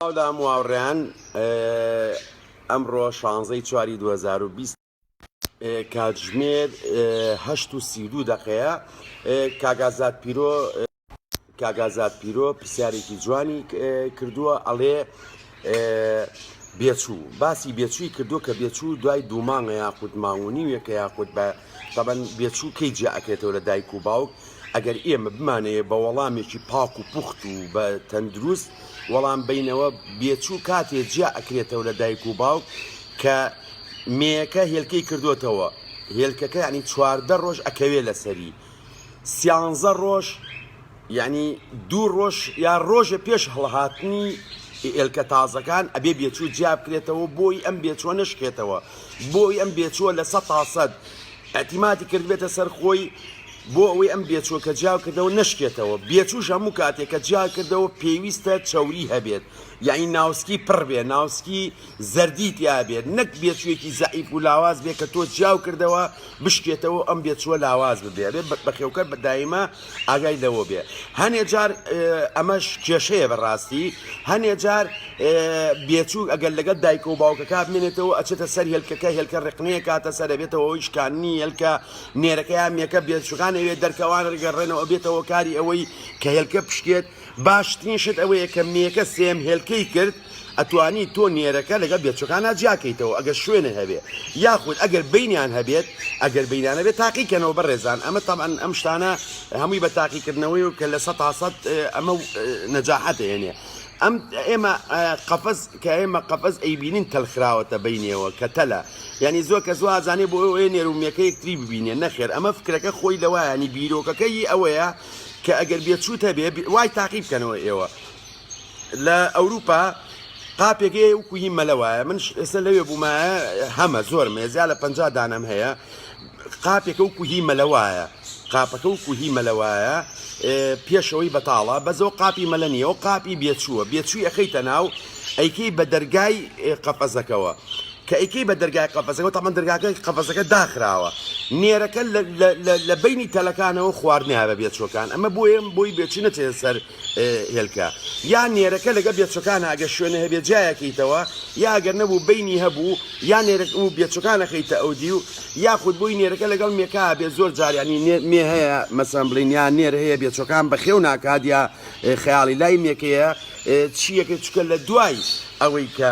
سڵاو لە هەموو هاوڕێیان ئەمڕۆ شانزەی چواری 2020 کاتژمێر هەشت و سی دوو دەقەیە کاگازات پیرۆ کاگازات پیرۆ پرسیارێکی جوانی کردووە ئەڵێ بێچوو باسی بێچووی کردو کە بێچوو دوای دوو مانگە یاخود ماونی وێکە یاخود بە تەبەن بێچوو کەی جیا ئەکرێتەوە لە دایک و باوک ئەگەر ئێمە بمانەیە بە وەڵامێکی پاک و پوخت و بە تەندروست وەڵام بینەوە بێچوو کاتێ جیا ئەکرێتەوە لە دایک و باوک کە مێەکە هێلکەی کردوتەوە هێلکەکە ینی چواردە ڕۆژ ئەکەوێ لەسەری سیانزە ڕۆژ یەعنی دوو ڕۆژ یا ڕۆژێ پێش هەڵهاتنی ئێلکە تازەکان ئەبێ بێچوو جیابکرێتەوە بۆی ئەم بێچوە نەشکێتەوە بۆی ئەم بێچوە لە سە تاسەد ئەتیماتی کردبێتە سەر خۆی بۆ ئەوەی ئەم بێچوە کە جیاو کردەوە نشکێتەوە بێچوش هەموو کاتێک کە جیا کردەوە پێویستە چوری هەبێت یعنی ناوسکی پڕ بێ ناوسکی زەردی تیاابێت نەک بێچوێکی زعیف و لاواز بێ کە تۆ جیاو کردەوە بشکێتەوە ئەم بێچوە لاواز ببێ بە بەخێوکە بەدایمە ئاگای لەوە بێ هەنێ جار ئەمەش کێشەیە بەڕاستی هەنێ جار بێچوو ئەگەر لەگەڵ دایکە و باوکەکە بمێنێتەوە ئەچێتە سەر هێلکەکە هێلکە ڕقنەیە کاتە سەر بێتەوەەوەی شکاننی هێلکە نێرەکەیان مێکە بێچووکان ئەوێ دەرکەوان ڕگەڕێنەوە بێتەوە کاری ئەوەی کە هێلکە پشکێت باشترین شت ئەوەیە کە مێکە سێیەم هێلکەی کرد ئەتوانی تۆ نێرەکە لەگەڵ بێچوەکانا جیاکەیتەوە ئەگەر شوێنە هەبێ یاخود ئەگەر بینیان هەبێت ئەگەر بینانە بێت تاقیکەنەوە بەڕێزان ئەمە تاان ئەم شتانە هەمووی بە تاقیکردنەوەی و کە لە سە تاسەد ئەمە نەجاحەت هێنێ ئەم ئێمە قەفز کە ئێمە قەفز ئەیبینین تەلخراوەتە بینەوە کە تەلە یعنی زۆر کە زوازانێ بۆ ئەوێ نێرومێکە یەکتری ببینێ نەخێر ئەمە فکرەکە خۆی لەوایانی بیرۆکەکەی ئەوەیە کە ئەگەر بێچوت هەبێ وای تاقی بکەنەوە ئێوە لە ئەوروپا قاپێک هەیە و کوهی مەلە وایە من ئێستا لەوێ بوومە هەمە زۆر مێزیا لە پ دانم هەیە قاپێکە و کوهی مەلە وایە قاپەکە و کوهی مەلە وایە پێشەوەی بەتاڵە بەزۆ قاپی مەلە نیە و قاپی بێچووە بێچووی ئەەکەیتە ناو ئەیکەی بە دەرگای قەپەزەکەەوە کە ئەیکەی بە دەرگای قەفەسەکەوە تەبعەن دەرگاکە قەفەسەکە داخراوە نێرەکە لە لە لە لە بەینی تەلەکانەوە خواردنایە بە بێچوەکان ئەمە بۆیە بۆی بێچوو نەچێتە سەر هێلکە یا نێرەکە لەگە بێچوەکانە ئەگە شوێنە هەبێ جیایەکەیتەوە یا ئەگەر نەبوو بینی هەبوو یا نێرەک و بێچوەکانەکەیتە ئەو دی و یاخود بۆی نێرەکە لەگەڵ مێکا بێ زۆر جاریانی مێ هەیە مەسەن بڵین یا نێر هەیە بێچوەکان بەخێو ناکات یا خەیاڵی لای مێکەیە چیەکە چکە لە دوای ئەوەی کە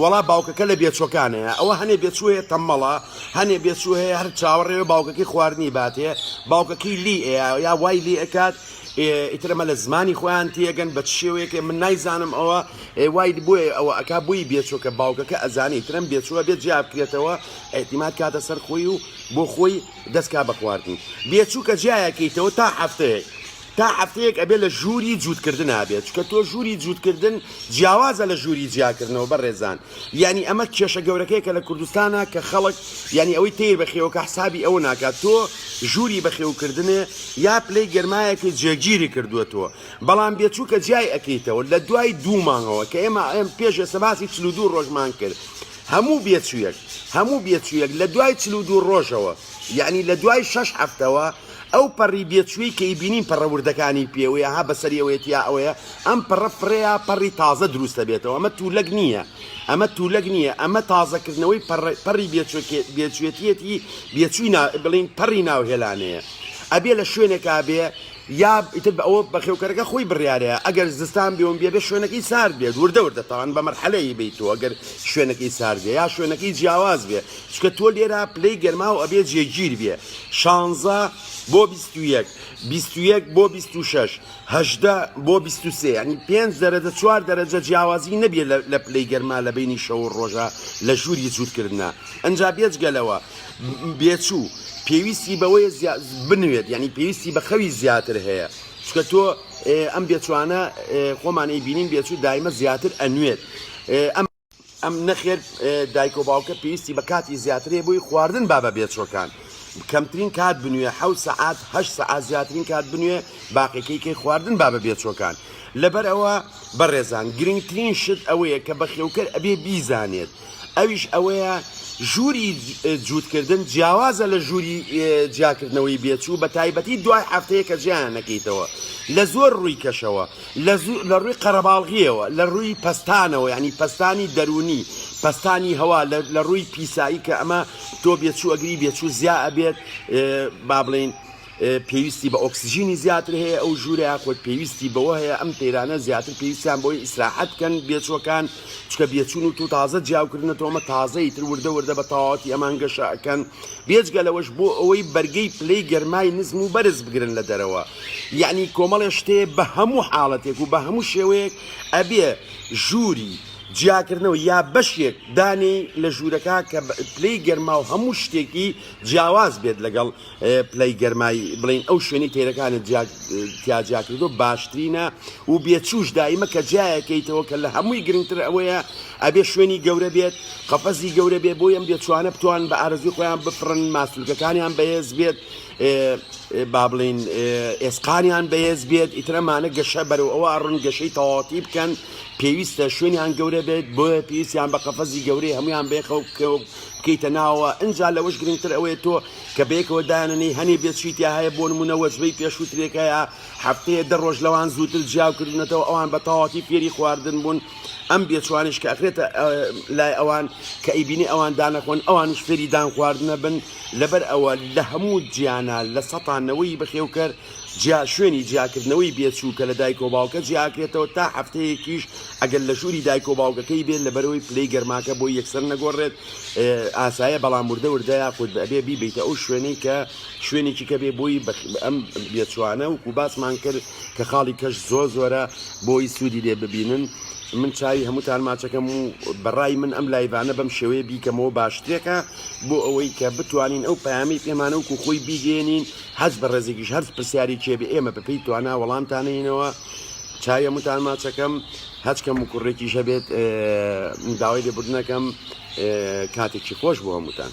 وەڵا باوکەکە لە بێچوەکانەیە ئەوە هەنێ بێچوو هەیە تەمەڵە هەنێ بێچوو هەیە هەر چاوەڕێوە باوکەکەی خواردنی باتێ باوکەکەی لی ئەیە یا وای لی ئەکات ئیترەمە لە زمانی خۆیان تێگەن بە شێوەیەکێ من نایزانم ئەوە وای بۆیە ئەوە ئەک بووی بێچۆکە باوکەکە ئەزانی ترم بێچووە بێت جیا بکرێتەوە ئەحتیمات کاتە سەر خۆی و بۆ خۆی دەستکا بە خواردن بێچوو کە جیایەکەیتەوە تا هەفتەیەک تا هەفتەیەک ئەبێ لە ژووری جووتکردنا بێت چکە تۆ ژووری جووتکردن جیاوازە لە ژووری جیاکردنەوە بەڕێزان یعنی ئەمە کێشە گەورەکەی کە لە کوردستانە کە خەڵک یعنی ئەوەی تیر بەخێوەکە حسابی ئەوە ناکات تۆ ژووری بەخێوکردنێ یا پلەی گەرمایەکی جێگیری کردووەتەوە بەڵام بێچووکە جیای ئەەکەیتەوە لە دوای دوو مانگەوە کە ئێمە ئەم پێش ئێستا باسی چلو دوو ڕۆژمان کرد هەموو بێچوویەک هەموو بێچوویەک لە دوای چلو دوو ڕۆژەوە یعنی لە دوای شەش هەفتەوە ئەو پەڕی بێچووەی کە ئیبینین پەڕە وردەکانی پێوەیە ها بەسەری ئەوەیەتیا ئەوەیە ئەم پەڕە فڕێیا پەڕی تازە دروستە بێتەوە ئەمە تولەک نییە ئەمە تولەک نییە ئەمە تازەکردنەوەی پەڕی بێچوێتیەتی بێچووی بڵین پەڕی ناو هێلانەیە ئەبێ لە شوێنێکا بێ یا ئیتر بە ئەوە بەخێوکەرەکە خۆی بڕیارەیە ئەگەر زستان بێون بێ بێ شوێنەکەی سارد بێت وردە وردە تاوان بە مەرحەلەیە بیتەوە گەر شوێنەکەی سارد بێ یا شوێنەکەی جیاواز بێ چونکە تۆ لێرە پلەی گەرماو ئەبێ جێگیر بێ شانزە بۆ بیست و یەک بیست و یەک بۆ بیست و شەش هەژدە بۆ بیست و سێ یعنی پێنج دەرەجە چوار دەرەجە جیاوازی نەبێ لە پلەی گەرما لە بینی شەو و ڕۆژە لە ژووری جوورکردە ئەجا بێجگەلەوە بێچوو پێویستی بەوەیە بنوێت یعنی پێویستی بە خەوی زیاتر هەیە چکە تۆ ئەم بێچوانە خۆمانی بینین بێچوو دایمە زیاتر ئەنوێت ئەم ئەم نەخێر دایک و باوکە پێویستی بە کاتی زیاترێ بۆی خواردن با بە بێچۆکان کەمترین کات بنوێ حەوت سەعات هە سەعات زیاترین کات بنوێ باقیەکەی کەی خواردن با بە بێچۆکان لەبەر ئەوە بەڕێزان گرنگترین شت ئەوەیە کە بە خێوکەر ئەبێ بیزانێت ئەویش ئەوەیە ژووری جووتکردن جیاوازە لە ژووری جیاکردنەوەی بێچوو بە تایبەتی دوای هەفتەیە کە جیان نەکەیتەوە لە زۆر ڕووی کەشەوە لە زوو لە ڕووی قەرەباڵغییەوە، لە ڕووی پەستانەوە یانی پەستانی دەروونی، پەستانی هەوا، لە لە ڕووی پیسایی کە ئەمە تۆ بێچوو ئەگری بێچوو زیا ئەبێت با بڵێین پێویستی بە ئۆکسجینی زیاتر هەیە ئەو ژوورە یاخود پێویستی بەوە هەیە ئەم تەیرانە زیاتر پێویستیان بۆی ئیسراحەت کەن بێچوەکان چکە بێچون و تو تازە جیاوکردنەوە ئەمە تازەی تر وردە وردە بە تەواوەتی ئەمان گەشە ئەکەن بێجگە لەوەش بۆ ئەوەی بەرگەی پلەی گەرمای نزم و بەرز بگرن لە دەرەوە یەعنی کۆمەڵێ شتەیە بە هەموو حاڵەتێک و بە هەموو شێوەیەک ئەبێ ژووری جیاکردنەوە یا بەشێک دانێی لە ژوورەکە کە پلەی گەرما و هەموو شتێکی جیاواز بێت لەگەڵ پلەی گەرمای بڵین ئەو شوێنی تەیرەکانت تیاجیاکردو باشترینە و بێچوش دایمە کە جیایەکەیتەوە کە لە هەمووی گرنگتر ئەوەیە ئەبێ شوێنی گەورە بێت قەفەزی گەورە بێ بۆ ئەم بێچوانە بتوان بە ئارزوی خۆیان بفرن ماسولکەکانیان بەهێز بێت با بڵین ئێسقانیان بەهێز بێت ئیترەمانە گەشە بەرەو ئەوە ئەڕون گەشەی تەواتی بکەن پێویستە شوێنیان گەورە بێت بۆ پێویستیان بە قەفەزی گەورەی هەمویان بێخەو بکەیتە ناوە ئەجا لەوەش گرنگتر ئەوەیە تۆ کە بێکەوە دایانەی هەنێ بێت شیتیا هەیە بۆ نمونە وەجبەی پێشوترێکەیە هەفتەیە دە ڕۆژ لەوان زووتر جیاکردونەتەوە ئەوان بە تەواتی فێری خواردن بوون ئەم بێچوانش کە ئەخرێتە لای ئەوان کە ئەیبینی ئەوان دانەخۆن ئەوانش فێری دان خواردنە بن لەبەر ئەوە لە هەموو جیانە لە سەتانەوەی بەخێوکەر جیا شوێنی جیاکردنەوەی بێچوو کە لە دایک و باوکە جیاکرێتەوە تا هەفتەیەکیش ئەگەر لە ژووری دایک و باوکەکەی بێت لە بەرەوەی پلەی گەرماکە بۆ یەکسەر نەگۆڕێت ئاسایە بەڵام وردە وردە یاخود بەبێ بیبیتە ئەو شوێنەی کە شوێنێکی کە بێ بۆی ئەم بێچوانە و کوباسمان کرد کە خاڵی کەش زۆر زۆرە بۆی سوودی لێ ببینن من چاوی هەمووتان ماچەکەم و بەڕای من ئەم لایڤانە بەم شێوەیە بیکەمەوە باشترێکە بۆ ئەوەی کە بتوانین ئەو پامی پێمانە و کوخۆی بیگەێنین حەز بە ڕێزێکیش هەرز پرسیاری چێ بە ئێمە بەپی توانا وەڵامتانینەوە چاوی هەمووتان ماچەکەم هەچکەم و کوڕێکیش هەبێت داوای لێبوردنەکەم کاتێکی خۆش بۆ هەمووتان.